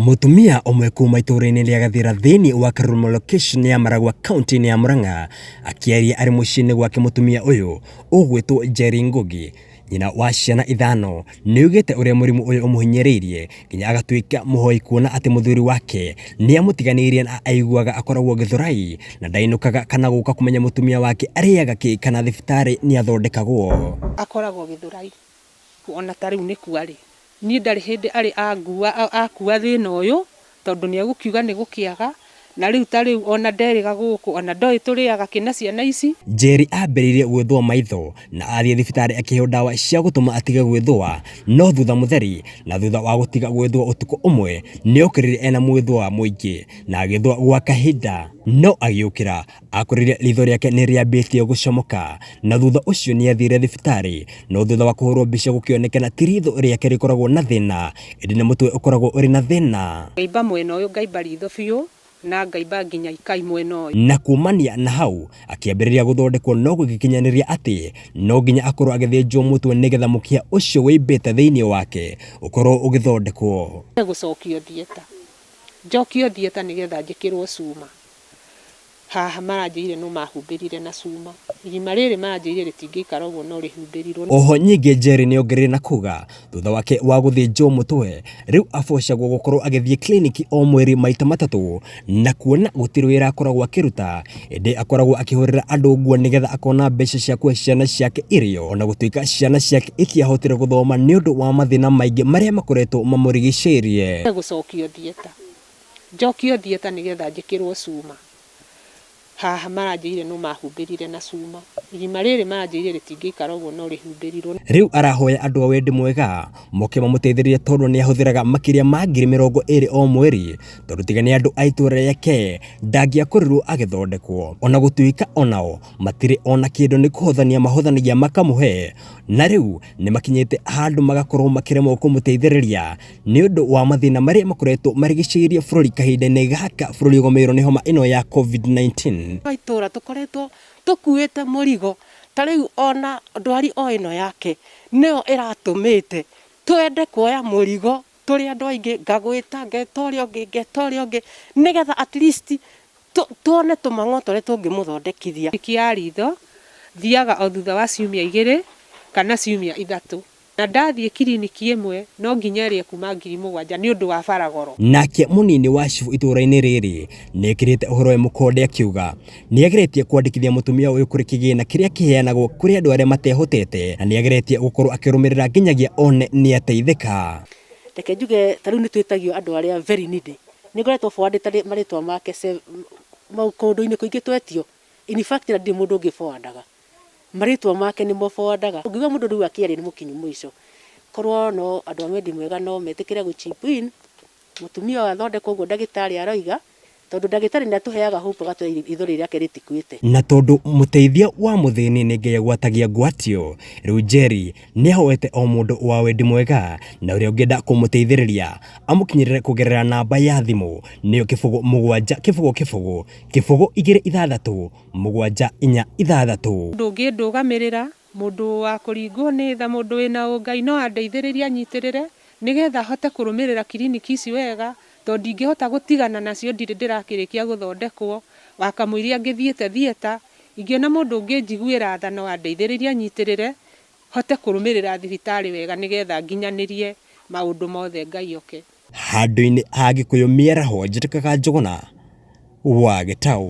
Mũtumia ũmwe kuma itũũra-inĩ rĩa Gathira thĩinĩ wa Karurumo location ya Maragwa kaunti-inĩ ya Murang'a akĩaria arĩ mũciĩ-inĩ gwake mũtumia ũyũ ũgwĩtwo Njeri Ngugi nyina wa ciana ithano nĩaugĩte ũrĩa mũrimũ ũyũ ũmũhinyĩrĩirie nginya agatuĩka mũhoi kuona atĩ mũthuri wake nĩamũtiganĩirie na aiguaga akoragwo Gĩthũrai na ndainũkaga kana gũka kũmenya mũtumia wake arĩaga kĩ kana thibitarĩ nĩathondekagwo. akoragwo Gĩthũrai Ona ta rĩu nĩ kua rĩ, niĩ ndarĩ hĩndĩ arĩ angua, akua thĩna ũyũ, tondũ nĩ egũkiuga nĩ gũkĩaga, na rĩu ta rĩu ona nderĩga gũkũ, ona ndoĩ tũrĩaga kĩ na ciana ici. Njeri aambĩrĩirie gwĩthũa maitho na athiĩ thibitarĩ akĩheo ndawa cia gũtũma atige gwĩthũa, no thutha mũtheri na thutha wa gũtiga gwĩthũa ũtukũ ũmwe, nĩ okĩrire ena mwĩthũa mũingĩ na agĩthũa gwa kahinda, no agĩũkĩra akorire ritho rĩake nĩ rĩambĩtie gũcomoka na thutha ũcio nĩ athire thibitarĩ no thutha wa kũhũrwo mbica gũkĩonekana ti ritho rĩake rĩkoragwo na thĩna ĩndĩ nĩ mũtwe ũkoragwo ũrĩ na thĩna ngaimba mwena ũyũ ngaimba ritho biũ na ngaimba nginya ikai mwena ũyũ. na kumania na hau akĩambĩrĩria gũthondekwo no gũgĩkinyanĩria atĩ no nginya akorwo agĩthĩnjwo mũtwe nĩgetha mũkiha ũcio wĩimbĩte thĩinĩ wake ũkorwo ũgĩthondekwo. gũcokio theater njokio theater nĩgetha njĩkĩrwo cuma Haha maranjĩrire no mahumbĩrire na cuma. Irima rĩrĩ maranjĩrire rĩtingĩikara ũguo no rĩhumbĩrirwo. Oho nyingĩ Njeri nĩongereire na kuga thutha wake wa gũthĩnjwo mũtwe, rĩu abocagwo gũkorwo agĩthiĩ kiriniki o mweri maita matatũ na kuona gũtirĩ wĩra akoragwo akĩruta, ĩndĩ akoragwo akĩhũrĩra andũ nguo nĩgetha akona mbeca cia kũhe ciana ciake irio ona gũtuĩka ciana ciake itiahotire gũthoma nĩũndũ wa mathĩna maingĩ marĩa makoretwo mamũrigicĩirie. Gũcokio thieta. njokio theater nĩgetha njĩkĩrwo cuma, haha maranjĩrire no mahumbĩrire na cuma, irima rĩrĩ maranjĩrire rĩtingĩikara ũguo no rĩhumbĩrirwo. Rĩu arahoya andũ a wendi mwega moke mamũteithĩrĩrie tondũ nĩ ahũthĩraga makĩria ma ngiri mĩrongo ĩrĩ o mweri tondũ tiga nĩ andũ a itũra rĩake ndangĩakũrĩrwo agĩthondekwo ona gũtuĩka onao matirĩ ona kĩndũ nĩ kũhothania mahothanagia makamũhe na rĩu nĩ makinyĩte handũ magakorwo makĩremwo kũmũteithĩrĩria. Nĩ ũndũ wa mathĩna marĩa makoretwo marigicĩirie bũrũri kahinda-inĩ gaka bũrũri ũgũmĩirwo nĩ homa ĩno ya COVID-19. Kwa itũũra tũkoretwo tũkuĩte mũrigo, ta rĩu ona ndwari o ĩno yake nĩyo ĩratũmĩte twende kuoya mũrigo tũrĩ andũ aingĩ, ngagwĩta, ngeta ũrĩa ũngĩ, ngeta ũrĩa ũngĩ, nĩgetha at least tuone tũmang'o tũrĩa tũngĩmũthondekithia. Njuĩrĩ ya ritho, thiaga o thutha wa ciumia igĩrĩ kana ciumia ithatũ. Na ndathiĩ kiriniki ĩmwe no nginya ĩrĩe kuuma ngiri mũgwanja nĩ ũndũ wa bara goro. Nake mũnini wa cibũ itũũra-inĩ rĩrĩ nĩ ekĩrĩte ũhoro ũyũ mũkonde akiuga nĩ ageretie kwandĩkithia mũtumia ũyũ kũrĩ kĩgĩna kĩrĩa kĩheanagwo kũrĩ andũ arĩa matehotete na nĩ ageretie gũkorũo akĩrũmĩrĩra nginyagia one nĩ ateithĩka. Reke njuge ta rĩu nĩ twĩtagio andũ arĩa very needy. Nĩ ngoretwo forward ĩte marĩtwa make kũndũ-inĩ kũingĩ twetio. In fact na ndirĩ mũndũ ũngĩ forward aga. Marĩtwa make nĩmo boandaga. Ũngĩigua mũndũ rĩu akĩaria nĩ mũkinyu mũico. Korwo no andũ a wendi mwega no metĩkĩre gũ chip in mũtumia ũyũ athondekwo ũguo ndagĩtarĩ aroiga tondũ ndagĩtarĩ nĩ atũheaga hope agatwĩra ithori rĩake rĩtikuĩte. Na tondũ mũteithia wa mũthĩni nĩ Ngai agwatagia ngwatio, rĩu Njeri nĩ ahoete o mũndũ wa wendi mwega na ũrĩa ũngĩenda kũmũteithĩrĩria amũkinyĩrĩre kũgerera namba ya thimũ nĩyo kĩbũgũ mũgwanja kĩbũgũ kĩbũgũ kĩbũgũ igĩrĩ ithathatũ mũgwanja inya ithathatũ. Ndũngĩndũgamĩrĩra, mũndũ wa kũringwo nĩ tha, mũndũ wĩ na ũngai no andeithĩrĩrie anyitĩrĩre nĩgetha hote kũrũmĩrĩra kiriniki ici wega tondũ ndingĩhota gũtigana nacio ndirĩ ndĩrakĩrĩkia gũthondekwo, wakamũiria angĩthiĩte thieta, ingĩona mũndũ ũngĩnjiguĩra tha no andeithĩrĩrie anyitĩrĩre hote kũrũmĩrĩra thibitarĩ wega nĩgetha nginyanĩrie maũndũ mothe Ngai oke. Handũ-inĩ ha Gĩkũyũ mĩaraho njĩtĩkaga Njũgũna wa gĩtaũ.